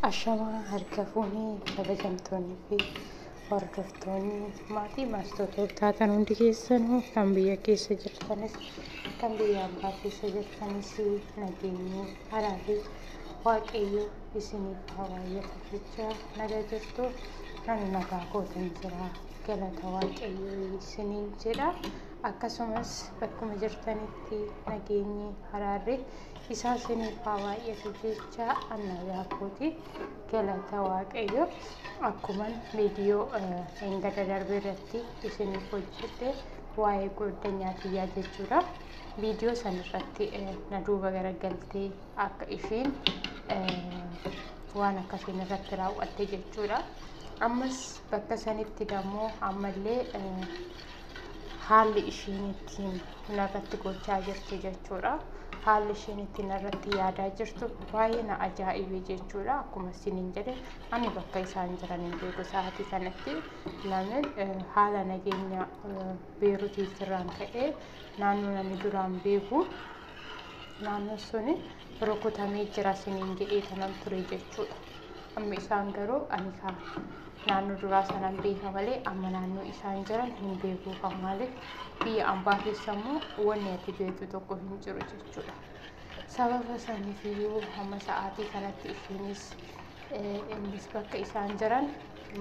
Ashamaa harka fuunee kabajamtoonni fi hordoftoonni maatii maastotoo taatan hundi keessan kan biyya keessa jirtanis kan biyya abbaa keessa jirtanis nageenyi haraa fi waaqayyo isiniif haa baay'atu jecha nagaa jirtu ani nagaa kootan jira galata waaqayyo isiniin jedha akkasumas bakkuma jirtanitti nageenyi haraarri Isaa isiniif haa baay'atu jecha annayaa kooti galata waaqayyo akkuman viidiyoo eengada darbe irratti isiniif hojjedhe waa'ee goddanyaa tiyyaa jechuudha. Viidiyoo san irratti na duuba garagaltee akka ishiin waan akkasiin irratti raawwatte jechuudha. Ammas bakka sanitti dammoo ammallee haalli ishiin ittiin narratti gochaa jirtu jechuudha. Haalli ishiin ittiin narratti yaadaa jirtu baay'ee na ajaa'ibe jechuudha. Akkuma isiniin jedhe ani bakka isaan jiran hin beeku sa'aatii kanatti lamin haala nageenya beerutii sirraan ka'ee naannoo namni duraan beeku naannoo suni rukutamee jira siniin jedhee tanan ture jechuudha. Amma isaan garuu ani kaa naannoo duraa sanan beeka malee amma naannoo isaan jiran hin beeku kan maaliif biyya ambaa keessa immoo wanni ati beektu tokko hin jiru jechuudha. Sababa saniif iyyuu hamma sa'aatii kanatti ishiinis eh, innis bakka isaan jiran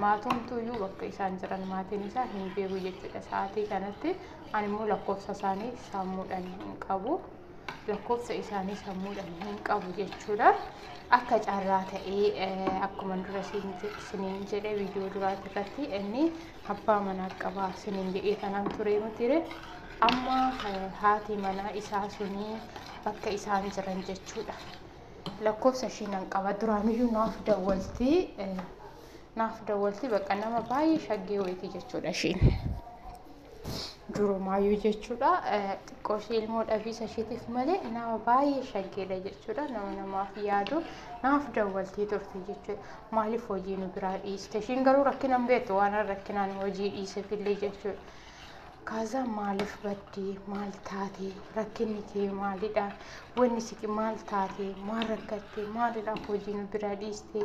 maatumtu iyyuu bakka isaan jiran maatiin isaa hin beeku jechuudha sa'aatii kanatti ani immoo lakkoofsa isaanii sammuudhaan hin qabu. lakkoofsa isaanii sammuudhaan hin qabu jechuudha. Akka carraa ta'ee eh, akkuma dura siin je- isiniin jedhe viidiyoo duraati irratti inni abbaa manaa qabaa isiniin jedhee kanaan turee mitiire. Amma eh, haati manaa isaa suni bakka isaan jiran jechuudha. Lakkoofsa ishii nan qaba duraaniyyuu naaf dawwalti. eh, Naaf dawwalti bakka nama baay'ee shaggee wayiiti jechuudha ishiin. Durumaayyuu jechuudha xiqqoo ishee ilmoo dhabiisa isheetiif malee nama baay'ee shaggeedha jechuudha nama namaaf yaadu naaf dawwaltee turte jechuudha maaliif hojii nu biraa dhiiste ishiin garuu rakkina hin beektu waan rakkinaan hojii dhiisefillee jechuudha. Kaazaa maaliif baddee maal taatee rakkinni kee maalidha wanni siqi maal taatee maal rakkattee maalidha hojii nu biraa dhiiste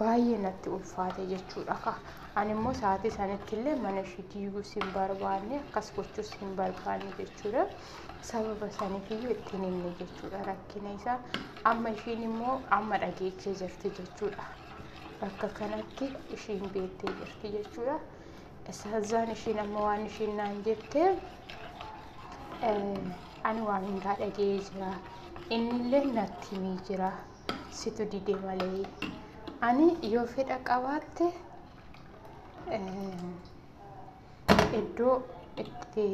baay'ee natti ulfaate jechuudha ka ani immoo sa'aatii sanitti illee mana ishii diiguus hin barbaanne akkas gochuus hin barbaanne jechuudha sababa saniif iyyuu ittiin himne jechuudha rakkina isaa amma ishiin immoo amma dhageechee jirti jechuudha bakka kanatti ishiin beettee jirti jechuudha saazaan ishiin amma waan ishiin naan jette ani waan hundaa dhaga'ee jira innillee natti himee jira situ dide malee ani yoo fedha qabaatte iddoo itti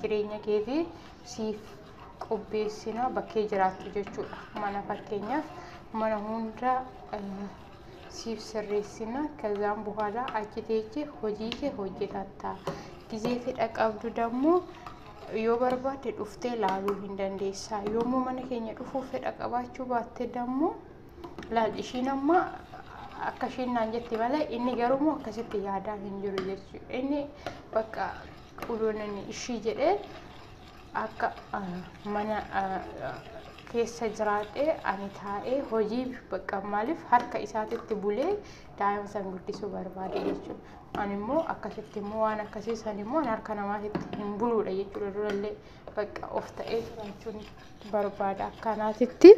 jireenya keetii siif qopheessina bakkee jiraattu jechuudha mana fakkeenyaaf mana hunda siif sirreessina kazaan buhaalaa achi teeche hojii kee hojjetatta gizee fedha qabdu dammoo yoo barbaadde dhuftee laaluu hin dandeessa yommuu mana keenya dhufuu fedha qabaachuu baatte dammoo laal ishiin amma akka ishiin naan jette malee inni garuu akkasitti yaadaa hin jiru jechuudha inni bakka quluunani ishii jedhee akka mana keessa jiraadhee ani taa'ee hojii bakka maaliif harka isaatitti bulee daa'ima san guddisuu barbaade jechuudha. Ani immoo akkasitti immoo waan akkasii san immoo harka namaatitti hin buluudha jechuudha durallee bakka of ta'ee jiraachuun barbaada akkanaatitti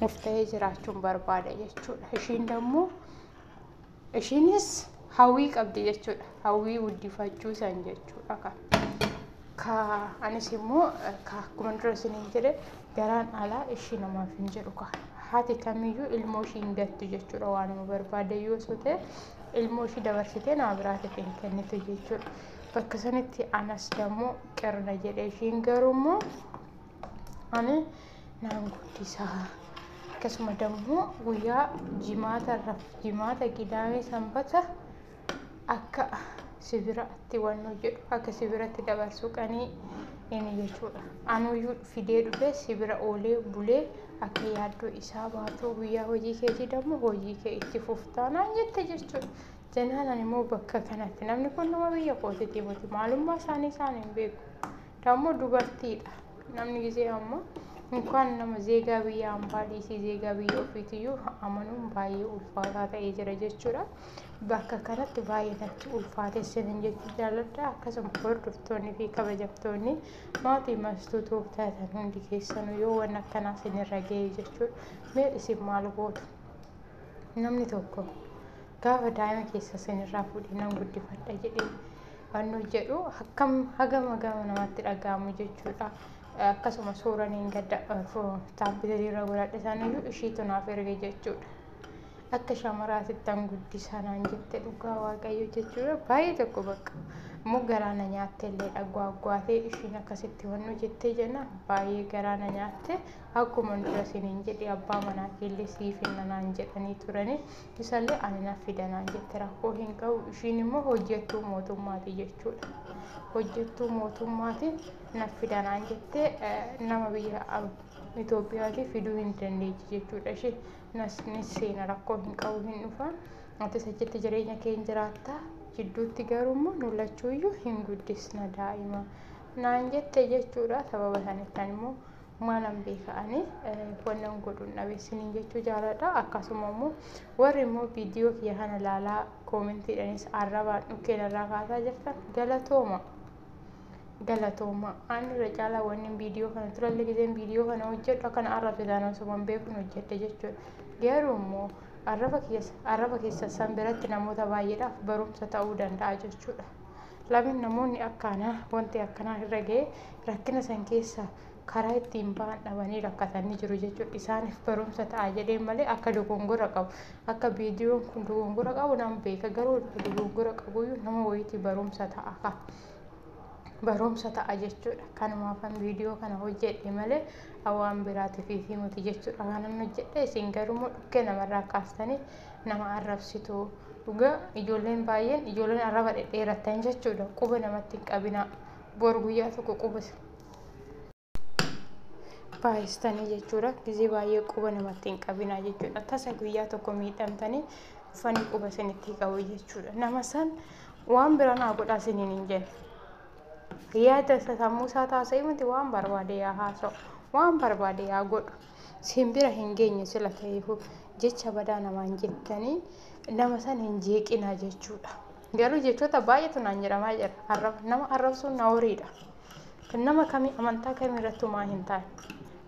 of ta'ee jiraachuun barbaada jechuudha. Ishiin dammoo Ishiinis hawwii qabdi jechuudha. Hawwii guddifachuu san jechuudha kan. Ka anis immoo ka akkuma dura isiniin jedhe garaan alaa ishii namaaf hin jedhu ka. Haati kamiyyuu ilmoo ishii hin gattu jechuudha waanuma barbaade yoo sote ilmoo ishii dabarsitee nama biraatiif hin kennitu jechuudha. Bakka sanitti anas dammoo qirna jedhe ishiin garuu immoo ani naan guddisa akkasuma dammoo guyyaa jimaata irra jimaata gidaamee sanbata akka sibiratti waan hojjedhu akka sibiratti dabarsuu qanii inni jechuudha anuyyuu fidee dhufee sibira oolee bulee akka yaaddoo isaa baatuu guyyaa hojii keetii dammoo hojii kee itti fuftaa naan jette jechuudha jennaan ani immoo bakka kanatti namni kun nama biyya kootitii miti maalummaa isaanii isaan hin beeku Dammoo dubartiidha. Namni gisee amma inkaan nama zeegaa biyya ambaa dhiisii zeegaa biyya ofiitiyyuu amanuun baay'ee ulfaataa ta'ee jira jechuudha. Bakka kanatti baay'ee natti ulfaatee sinin jechuu jaalladha. Akkasuma hordoftoonni fi kabajamtoonni maatii mastuu tuuftaatan hundi keessanuu yoo waan akkanaa sinirra ga'e jechuudha. Mee isin maal gootu? Namni tokko Gaafa daa'ima keessa isinirraa fuudhee nan guddifadha jedhee wannu jedhu akkam hagama gama namatti dhaga'amu jechuudha. Akkasuma suuraa niin gadda taabbileetii irra godhadhe saniyyuu ishiitu naaf erge jechuudha. Akka shamaraatittan guddisaa naan jette dhugaa waaqayyo jechuudha. Baay'ee tokko bakka immoo garaana nyaattee illee gwaagwaatee ishiin akkasitti wannu jettee jenna baay'ee garaana nyaatte akkuma dura isiniin jedhe abbaa manaa keellee siif hinna naan jedhanii turanii Isallee ani naf fida naan jette rakkoo hin qabu ishiin immoo hojjettuu mootummaati jechuudha. Hojjettuu mootummaati naf fida naan jette nama biyya Itoophiyaatii fiduu hin dandeechi jechuudha ishee nas ni seena rakkoo hin qabu hin dhufa atis achitti jireenya kee hin jiraatta jidduutti garuu immoo nu lachuuyyuu hin guddisna daa'ima naan jette jechuudha sababa sanittan immoo maalan beeka ani wannan godhuun dhabe isiniin jechuu jaaladha akkasuma immoo warri immoo viidiyoo kiyya kana ilaalaa koomentiidhanis arrabaan dhukkeen irraa kaasaa jirtan galatooma galatooma aan irra caalaa wanni viidiyoo kana turallee gizeen viidiyoo kana hojjedhu akkana arrabsitaan osuma hin beekun hojjedhe jechuudha garuu immoo arraba keessa arraba keessa san biratti namoota baay'eedhaaf barumsa ta'uu danda'a jechuudha. Lamin namoonni akka anaa wanti akkanaa irra ga'ee rakkina san keessa karaa ittiin ba'an dhabanii rakkatanii jiru jechuudha. Isaaniif barumsa ta'a jedheen malee akka dogongora qabu akka viidiyoon kun dogongora qabu nan beeka garuu dogongora qabuyyuu nama wayiitii barumsa ta'a ka. Barumsa ta'a jechuudha. Kanumaafan viidiyoo kana hojjedhe malee waan biraatiif fi miti jechuudha. Kanan hojjedhe isin garuu immoo dhukkee namarraa kaastanii nama arrabsitu dhugaa ijoolleen baay'een ijoolleen arraba dhedheerattan jechuudha quba namatti hin qabinaa bor guyyaa tokko quba baay'istanii jechuudha gizee baay'ee quba namatti hin qabinaa jechuudha tasa guyyaa tokko miidhamtanii dhufanii quba isinitti qabu jechuudha nama san waan biraa naa godhaa isiniin hin jenne yaada sammuu isaa taasisee miti waan barbaade yaa haasa'u waan barbaade yaa godhu Siin bira hin geenye sila ta'eefuu jecha badaa namaan jettanii nama san hin jeeqinaa jechuudha. Garuu jechoota baay'eetu naan jedhamaa jira. Arraba nama arrabsuun naworiidha. Kan nama kamii amantaa kamii irratti homaa hin taane.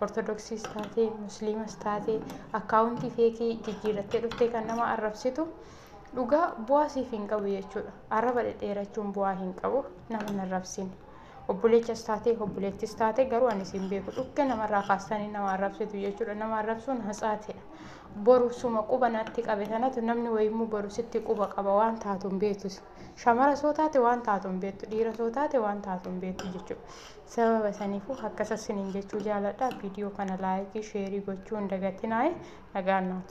Ortodoksiis taatee, musliimas taatee, akkaawuntii feekii jijjiirrattee dhuftee kan nama arrabsitu dhugaa bu'aa siif hin qabu jechuudha. Arraba dhedheerachuun bu'aa hin qabu nama hin arrabsiin. obboleechas taatee obboleettis taate garuu ani siin beeku dhukke namarraa kaastanii nama arrabsitu jechuudha nama arrabsuun hatsaatidha boru suma quba natti qabe sanatu namni wayimmoo boru sitti quba qaba waan taatu hin beektu shamara soo taate waan taatu hin beektu dhiira soo taate waan taatu hin beektu jechuudha sababa saniifuu akkasas siniin jechuu jaaladha viidiyoo kana laayikii sheerii gochuu hin dagatinaa'e nagaan naatu